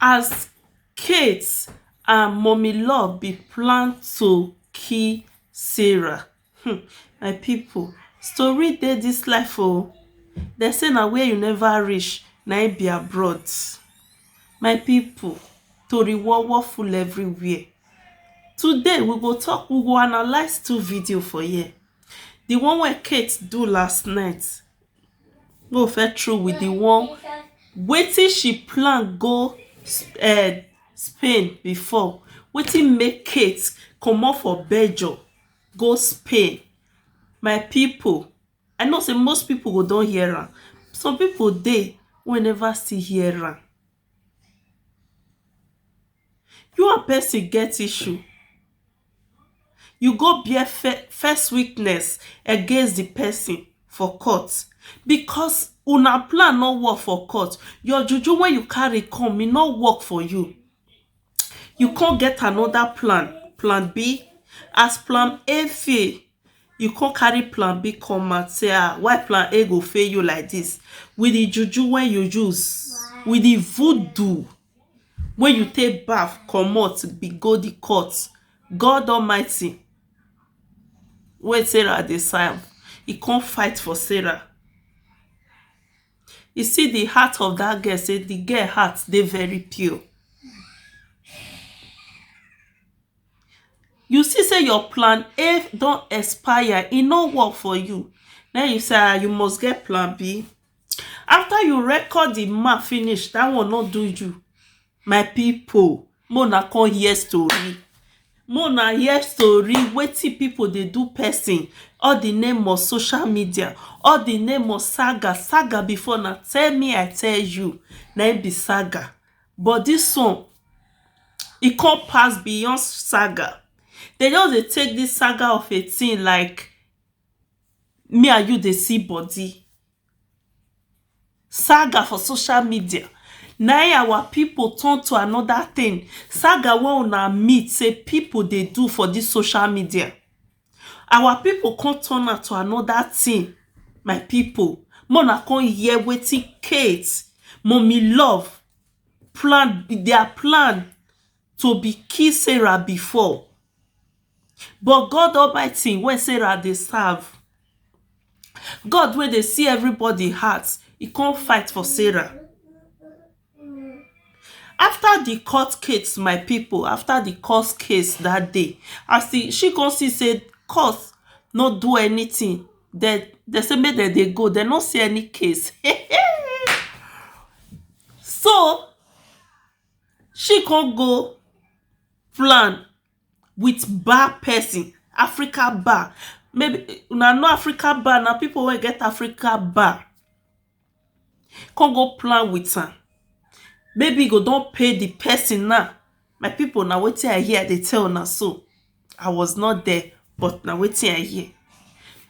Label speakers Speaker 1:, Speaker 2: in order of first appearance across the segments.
Speaker 1: As Kate and mummy love be plan to kill Sarah um my pipu story dey dis life oh, dem sey na where you never reach na im be abroad, my pipu tori wowo full everywhere, today we go talk we go analyse two video for here, di one wey Kate do last night no first through with the one wetin she plan go um Spain before wetin make Kate comot for Belgium go Spain my people I know say most people go don hear am some people dey wey never still hear am you and person get issue you go bear false witness against di pesin for court because una plan no work for court your juju wey you carry come e no work for you you come get anoda plan, plan B as plan A fail you come carry plan B come out say ah why plan A go fail you like dis with di juju wey you use with di voodoo. Wey you take baff comot be go di court God Almighty wey Sarah dey serve e come fight for Sarah You see di heart of dat girl sey di girl heart dey very pure You see sey your plan A don expire e no work for you na im you say ah you must get plan B after you record the man finish that one no do you my people make una come hear story make una hear story wetin people dey do person all the name of social media all the name of saga saga before na tell me i tell you na him be saga but this one e come pass beyond saga dem just dey take this saga of a thing like me and you dey see body saga for social media na im our people turn to another thing saga wey una meet sey people dey do for this social media our people come turn am to another thing my people make una come hear wetin Kate, mummy love plan their plan to be kill Sarah before but God almighty wey Sarah dey serve God wey dey see everybody heart e come fight for Sarah after di court case my people after di court case dat day as e she come see say court no do anything dem dem say make dem dey go dem no see any case so she come go flan with bar person Africa bar maybe una know Africa bar na people wey get Africa bar come go plan with am maybe e go don pay the person now my people na wetin I hear I dey tell una so. I was not there but na wetin I hear.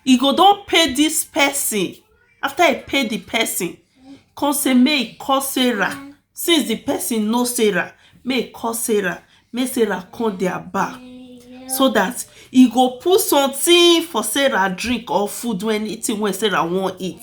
Speaker 1: E go don pay dis person, after e pay the person come say make e call Sarah since the person know Sarah make e call Sarah make Sarah come their bar so that e go put something for Sarah drink or food or anything wey Sarah wan eat.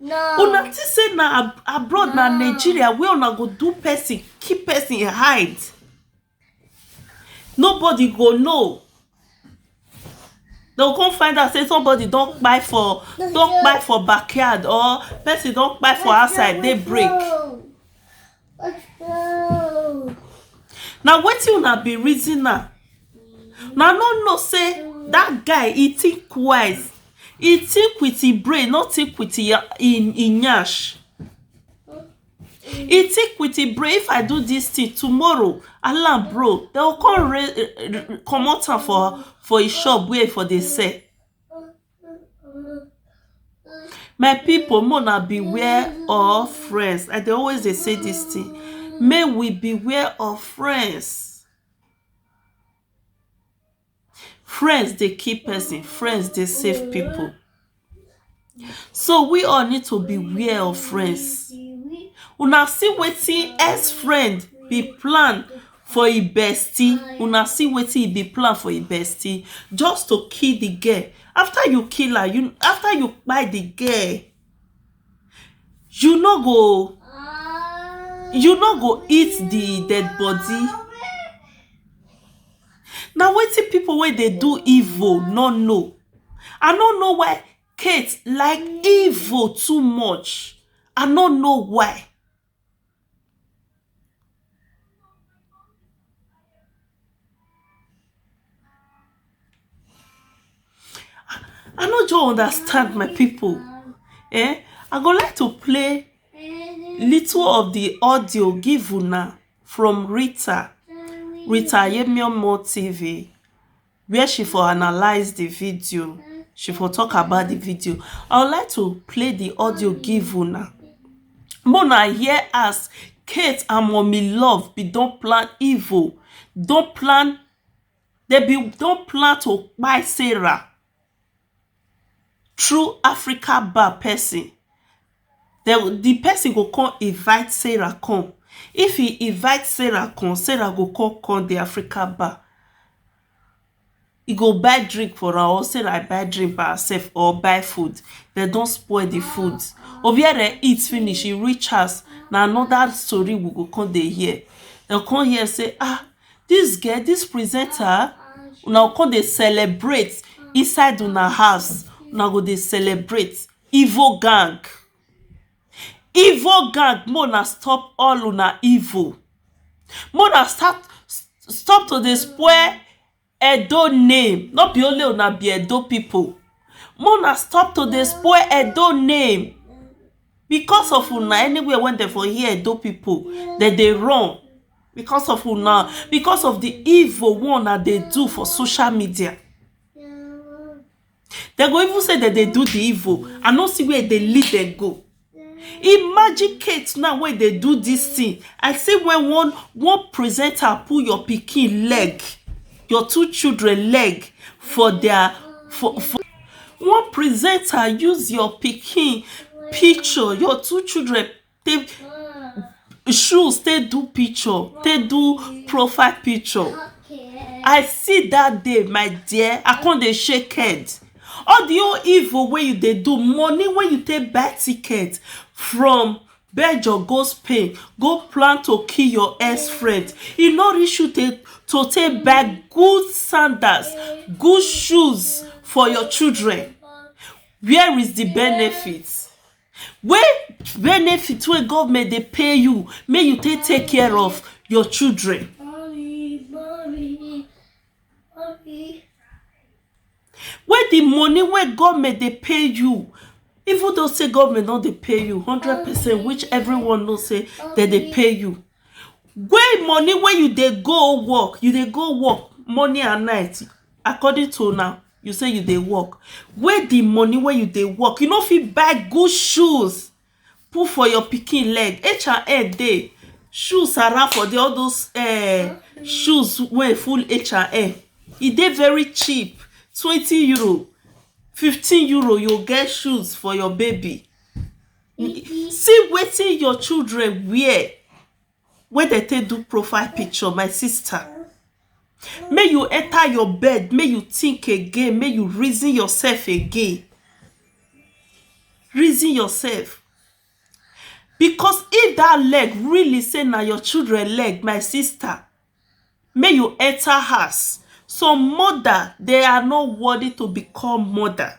Speaker 2: no una think say
Speaker 1: na ab- abroad na nigeria wey una go do person keep person hide nobody go know dem come find out say somebody don kpai for don kpai for backyard or person don kpai for outside dey break na wetin una be reason
Speaker 2: am
Speaker 1: na no know say that guy he think wise he think with him brain no think with him him him nyash he think with him brain if i do this thing tomorrow allan bro they go come re comot am for for him shop where he for dey sell My pipu make una beware of friends, I dey always dey say dis thing make we beware of friends. Friends dey kill person, friends dey save pipu so we all need to beware of friends. Una see wetin ex-friend be plan for e bestie una see wetin e be plan for e bestie just to kill the girl after you kill her you after you kpai the girl you no go you no go eat the dead body na wetin people wey dey do evil no know i no know why kate like evil too much i no know why I no just understand my people eh I go like to play little of the audio give una from Rita Rita Yemiomo TV where she for analyse the video she for talk about the video i would like to play the audio give una make una hear as kate and mummy love bin don plan evil don plan dem bin don plan to kpai sarah through Africa bar person dey go di person go come invite Sarah come if he invite Sarah come, Sarah go come come di Africa bar he go buy drink for am or Sarah buy drink for herself or buy food dem don spoil di food or where dem eat finish e reach house na another story we go come dey hear dem go come hear sey ah Dis girl, dis presenter una go come dey celebrate inside una house, una go dey celebrate, evil gang evil gang make una stop all una evil make una start stop to dey spoil Edo name no be only una be Edo people make una stop to dey spoil Edo name because of una anywhere wey dem for hear Edo people dem dey run because of una because of the evil wey una dey do for social media Dem go even say dem dey do the evil. I no see where e dey lead dem go. Imagine Kate now wey dey do dis thing. I see when one one presenter put your pikin leg, your two children leg for their for for one presenter use your pikin picture, your two children take shoes take do picture take do profile picture i see that day my dear i come dey shake head all the whole evil wey you dey do money wey you take buy ticket from Belgium go Spain go plan to kill your ex friend e no reach you to to take buy good sandals good shoes for your children where is the benefit wey benefit wey government dey pay you make you take take care of your children wey the money wey government dey pay you even though sey government no dey pay you hundred percent which everyone know sey dem dey pay you wey money wey you dey go work you dey go work morning and night according to una you say you dey work wey the money wey you dey work you no fit buy good shoes put for your pikin leg h and n dey shoes around for there all those um shoes wey full h and n e dey very cheap twenty euro fifteen euro you go get shoes for your baby see wetin your children wear wey dem take do profile picture my sister make you enter your bed make you think again make you reason yourself again reason yourself because if that leg really say na your children leg my sister make you enter house some mother they are not worthy to become mother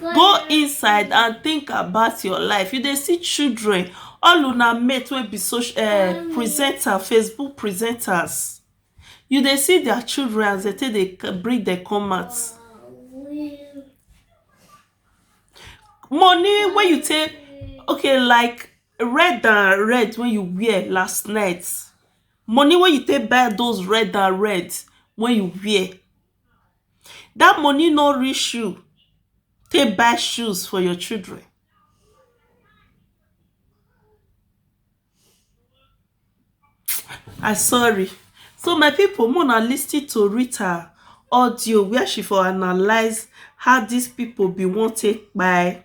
Speaker 1: Go inside and think about your life, you dey see children all una mate wey be soc um presenter, facebook presenters you dey see dia children as dey take dey bring dem come out money wey you take okay like red and red wey you wear last night money wey you take buy those red and red wey you wear dat money no reach you take buy shoes for your children I sorry so my people make una lis ten to Rita audio where she for analyse how dis people been wan take kpai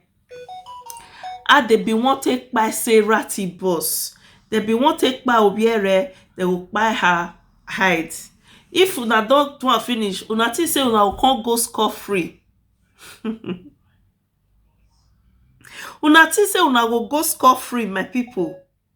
Speaker 1: How dem been wan take kpai Sarah T bus? Dem been wan take kpai Oby Eре, dem go kpai her hide. If una don do am finish, una think sey una go con go score free? um Una think sey una go go score free my people?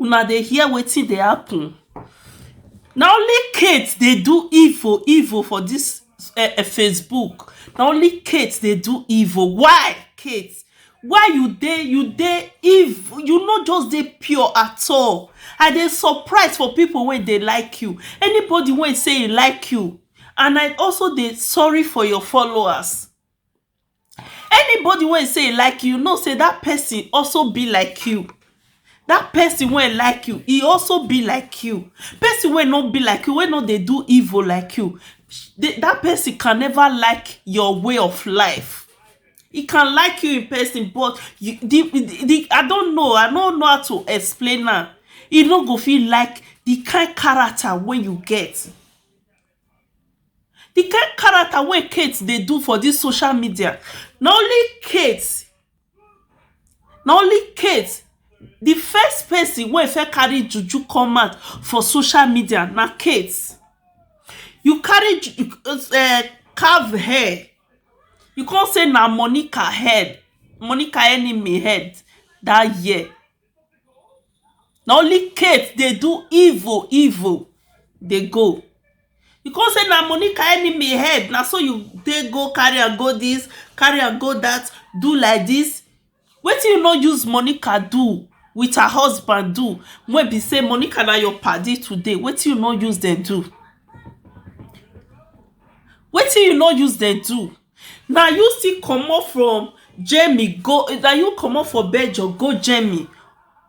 Speaker 1: Una dey hear wetin dey happen na only Kate dey do evil evil for dis Facebook na only Kate dey do evil why Kate why you dey you dey evil you no just dey pure at all I dey surprise for people wey dey like you anybody wey say e like you and I also dey sorry for your followers Anybody wey sey e like you, know sey dat person also be like you. Dat person wey like you, e also be like you. Person wey no be like you, wey no dey do evil like you, dat person can never like your way of life. E can like you in person but the the I don't know, I no know how to explain am. E no go fit like the kind character wey you get. The kind character wey Kate dey do for dis social media na only Kate na only Kate the first person wey first carry juju come out for social media na Kate you carry ju um carve hair you come say na Monica head Monica enemy head dat year na only Kate dey do evil evil dey go you come say na Monica enemy head na so you take go carry am go this carry am go that do like this wetin you no use Monica do with her husband do wey be say Monica na your padi today wetin you no use dem do wetin you no use dem do Na you still comot from Germany go na you comot from Belgium go Germany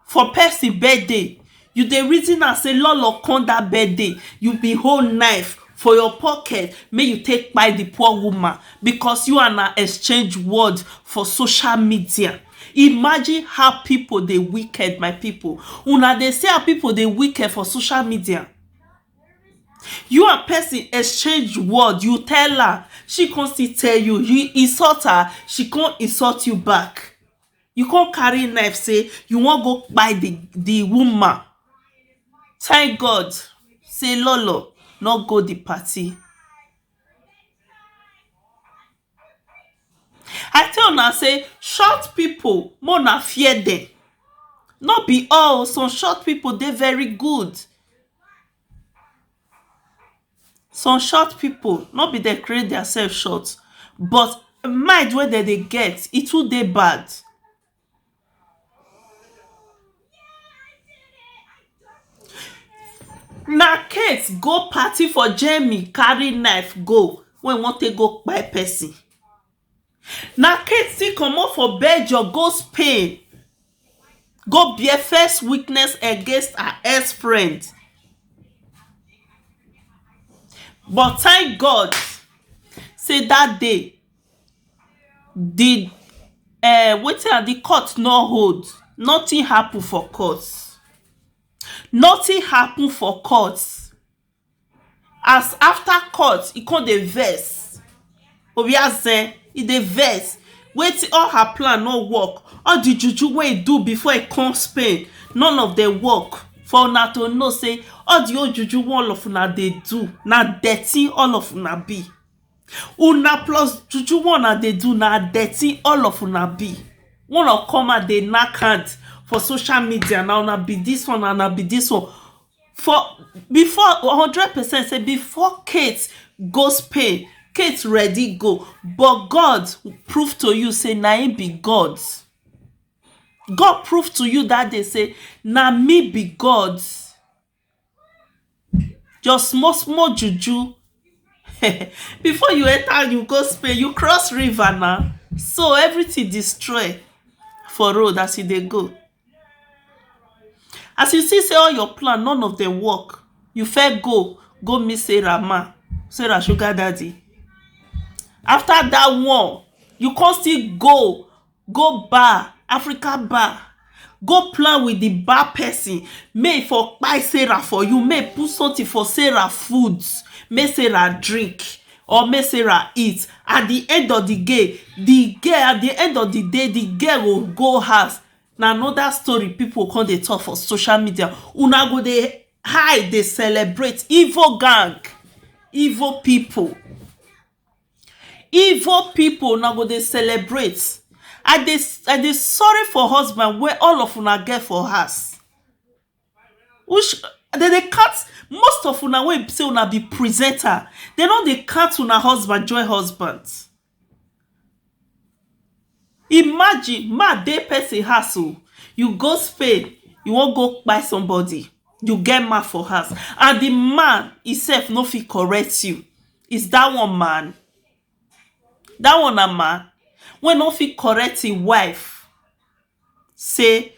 Speaker 1: for person birthday you dey reason am sey loloh come that birthday you bin hold knife for your pocket make you take kpai the poor woman because you and her exchange word for social media imagine how people dey wicked my people una dey see how people dey wicked for social media You and person exchange word, you tell am, she come still tell you, you insult her, she come insult you back. You come carry knife say you wan go kpai the the woman. Thank God say Lolo no go the party. I tell una sey short pipu make una fear dem no be all oh some short pipu dey very good some short pipu no be dem create their self short but mind wey dem dey get e too dey bad Na case go party for Germany carry knife go wey e wan take go kpai person. Na case still comot for Belgium go Spain go bear false witness against her ex friend but thank God sey dat day di um wetin I di court no hold nothing happen for court nothing happen for court as after court e come dey vex obiase e dey vex wetin all her plan no work all di juju wey e do before e come Spain none of dem work for una to know sey all di whole juju wey all of una dey do na dirty all of una be Una plus juju wey una dey do na dirty all of una be make una come out dey nack hand for social media na una be dis one na una be dis one for before hundred percent sey before Kate go Spain Kate ready go but God prove to you sey na him be God God prove to you dat day sey na me be God your small small juju before you enter you go Spain you cross river na so everything destroy for road as you dey go as you see say all your plan none of them work you first go go meet Sarah ma Sarah sugar daddy after that one you come still go go bar Africa bar go plan with the bar person make e for kpai Sarah for you make e put something for Sarah food make Sarah drink or make Sarah eat at the end of the gay the girl at the end of the day the girl go go house na another story people go come dey talk for social media una go dey high dey celebrate evil gang evil people Igbo people una go dey celebrate I dey I dey sorry for husband wey all of una get for house which dem dey count most of una wey be sey una be presenter dem no dey count una husband join husband Imagine mey I dey person house oh you go Spain you wan go kpai somebody you get man for house and the man e sef no fit correct you is that one man? that one na man wey no fit correct him wife sey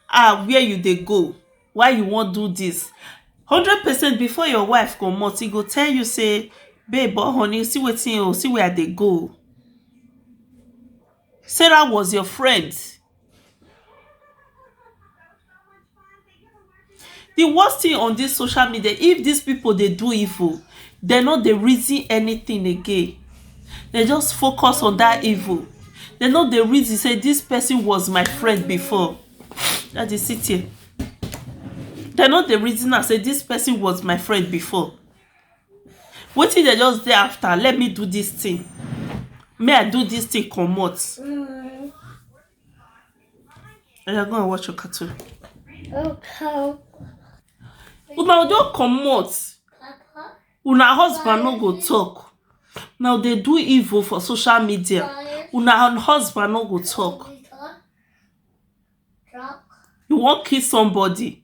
Speaker 1: ah where you dey go why you wan do dis hundred percent before your wife comot e go tell you sey babe or honey see wetin o see where I dey go Sarah was your friend Di worst tin on dis social media if dis pipo dey do evil dem no dey reason anytin again dem just focus on dat evil dem no dey reason say dis pesin was my friend before dat is sit here dem no dey reason am say dis pesin was my friend before wetin dem just dey afta let me do dis tin me I do dis tin comot. oya go and watch your cartoon okay una don comot una husband no go talk now dey do evil for social media una husband no go talk you wan kill somebody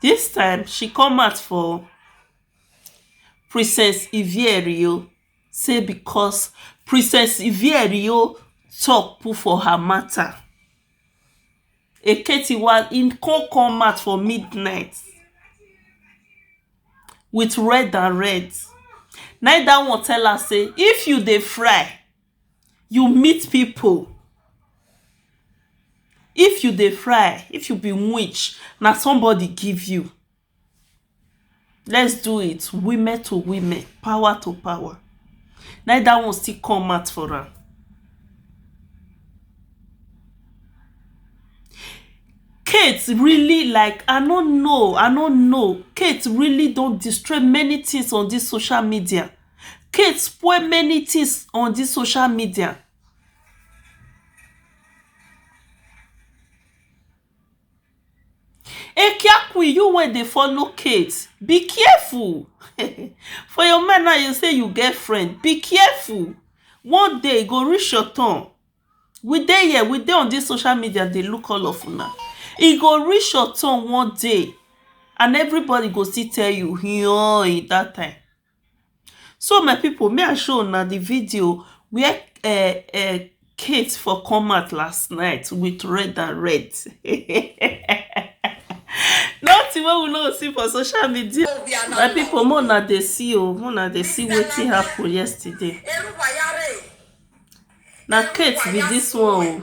Speaker 1: Dis time she come out for princess Ivierio sey because princess Ivierio talk put for her matter Eketiwa e come come out for midnight with red and red na im dat one tell her sey if you dey fry you meet people if you dey fry if you be witch na somebody give you let's do it women to women power to power na im that one still come out for am Kate really like I no know I no know Kate really don destroy many things on this social media Kate spoil many things on this social media Ekiakwin you wey dey follow Kate be careful for your mind now you say you get friend be careful one day e go reach your turn we dey here we dey on this social media dey look all of una e go reach your turn one day and everybody go still tell you yooi that time So my pipu make I show una di video where Kate for come out last night with red and red nothing wey we no see for social media my pipu make una dey see o make una dey see wetin happen yesterday na Kate be dis one o.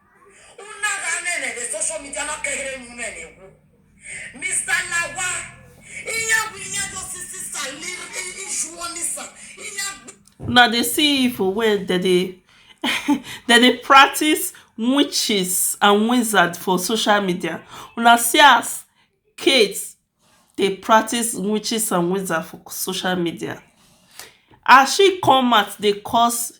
Speaker 3: Una ga nene the social media na kehere nu ne ne wu. Mr. Lawa, iya wi iya do sisi sa lir i ishu oni sa. Iya gbe.
Speaker 1: Una dey see evil wey dem dey dem dey practice witches and wizard for social media. Una see as Kate dey practice witches and wizard for social media. As she come out dey curse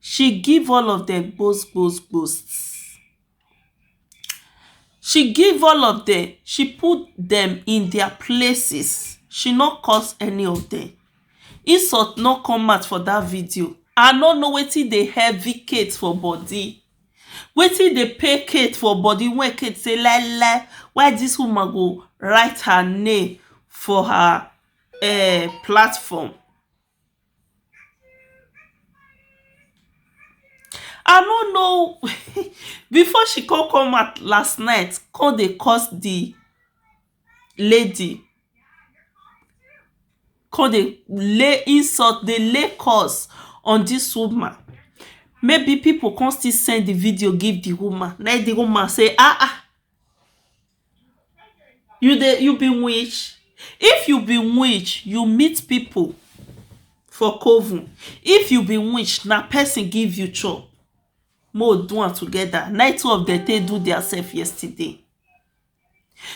Speaker 1: She give all of dem gbos gbos gbosts She give all of dem, she put dem in their places, she no curse any of dem Insult no come out for that video I no know wetin dey heavy Kate for body Wetin dey pain Kate for body wey Kate say lai lai why this woman go write her name for her um platform I no know before she come come out last night come dey curse the lady come dey lay insult dey lay curse on this woman maybe people come still send the video give the woman na him the woman say ah ah You dey you be witch? If you be witch, you meet pipu for coven. If you be witch, na person give you chop make we do am together. Na im two of dem take do their self yesterday.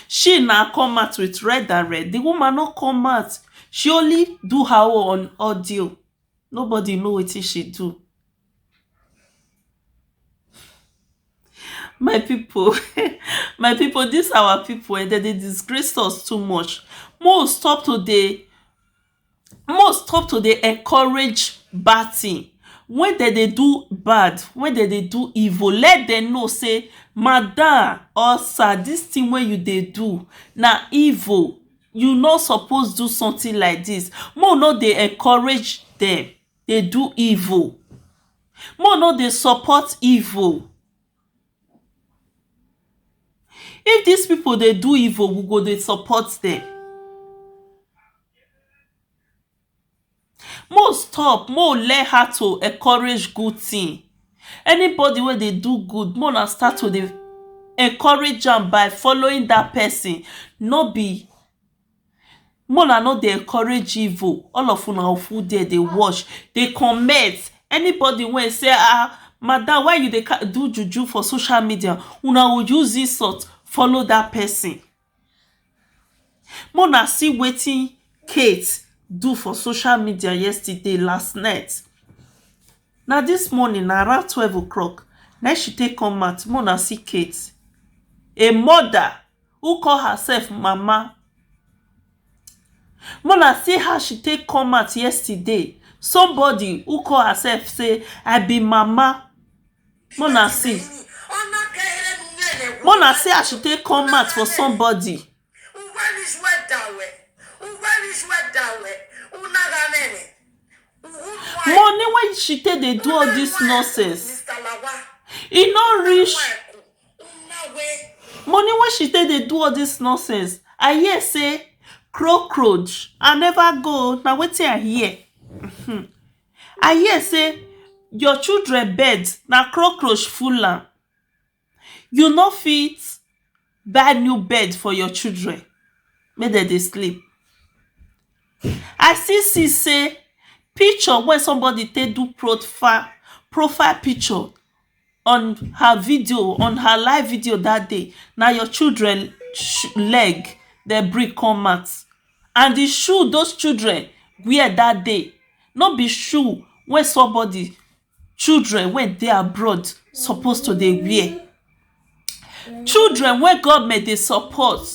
Speaker 1: She na come out with red and red. The woman no come out. She only do her own on audio. Nobody know wetin she do. My pipu my pipu dis our pipu um dem dey disgrace us too much make we stop to dey make we stop to dey encourage bad thing when dem dey do bad when dem dey do evil let dem know sey madam or sir dis thing wey you dey do na evil you no suppose do something like dis make we no dey encourage dem dey do evil make we no dey support evil if dis people dey do evil we go dey support dem make we stop make we learn how to encourage good thing anybody wey dey do good make una start to dey encourage am by following that person no be Make una no dey encourage evil all of una full there dey watch dey comment anybody wey say um madam why you dey do juju for social media una go use insult follow that person make una see wetin Kate do for social media yesterday last night na this morning na around twelve o clock na im she take come out make una see Kate a mother who call herself mama make una see how she take come out yesterday somebody who call herself say i be mama make una see make una see as she take come out for somebody money wey she take dey do all this nonsense e no reach Money wey she take dey do all this nonsense I hear say cockroach I never go oo na wetin I hear um I hear say your children bed na cockroach full am you no fit buy new bed for your children make dem dey sleep I still see say picture wey somebody take do profile profile picture on her video on her live video dat day na your children leg dem bring come out and di shoe those children wear dat day no be shoe wey somebody children wey dey abroad suppose to dey wear Children wey government dey support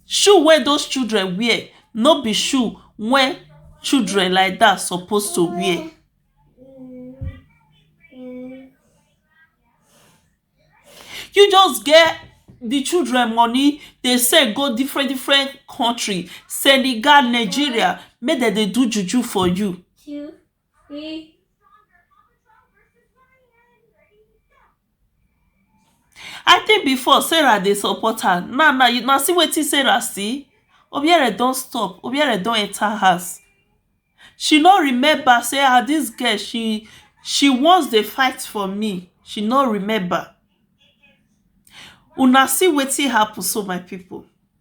Speaker 1: shoe wey those children wear no be shoe wey children like dat suppose to wear you just get the children money dey send go different different country Senegal Nigeria make dem dey do juju for you See? I think before Sarah dey support her now now you now see wetin Sarah see Obiere don stop Obiere don enter house she no remember say ah this girl she she once dey fight for me she no remember una see wetin happen so my people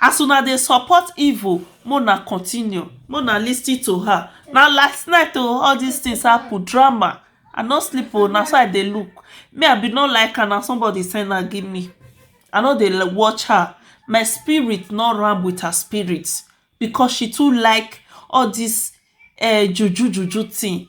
Speaker 1: As una dey support evil make una continue make una lis ten to her na last night oo all this things happen drama I no sleep oo na so I dey look me I been no like her na somebody send her give me I no dey watch her my spirit no ram with her spirit because she too like all this um juju juju thing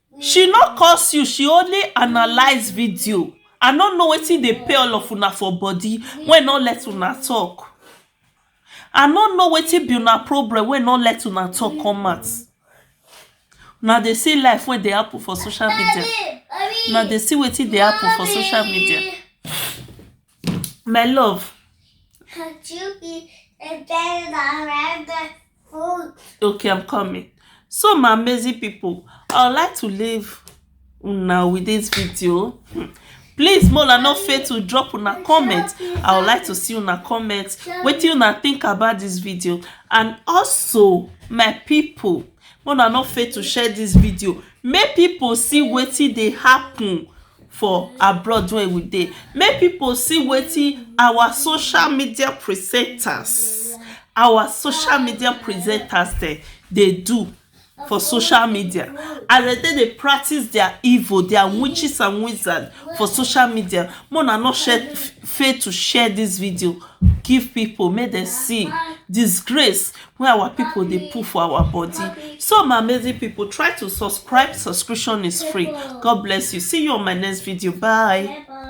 Speaker 1: She no curse you she only analyse video I no know wetin dey pay all of una for body wey no let una talk I no know wetin be una problem wey no let una talk come out una dey see life wey dey happen for social media una dey see wetin dey happen for social media my love
Speaker 2: okay i'm coming
Speaker 1: so my amazing people i would like to leave now with this video hmm. please mola no fail to drop una comment i would like to see una comment wetin una think about this video and also my people mola no fail to share this video make people see wetin dey happen for abroad wey we dey make people see wetin our social media presenters our social media presenters dem dey do for social media as dem take dey practice their evil their witches and wizards for social media make una no share fail to share this video give people make dem see disgrace wey our people dey put for our body so my amazing people try to subscribe subscription is free god bless you see you on my next video bye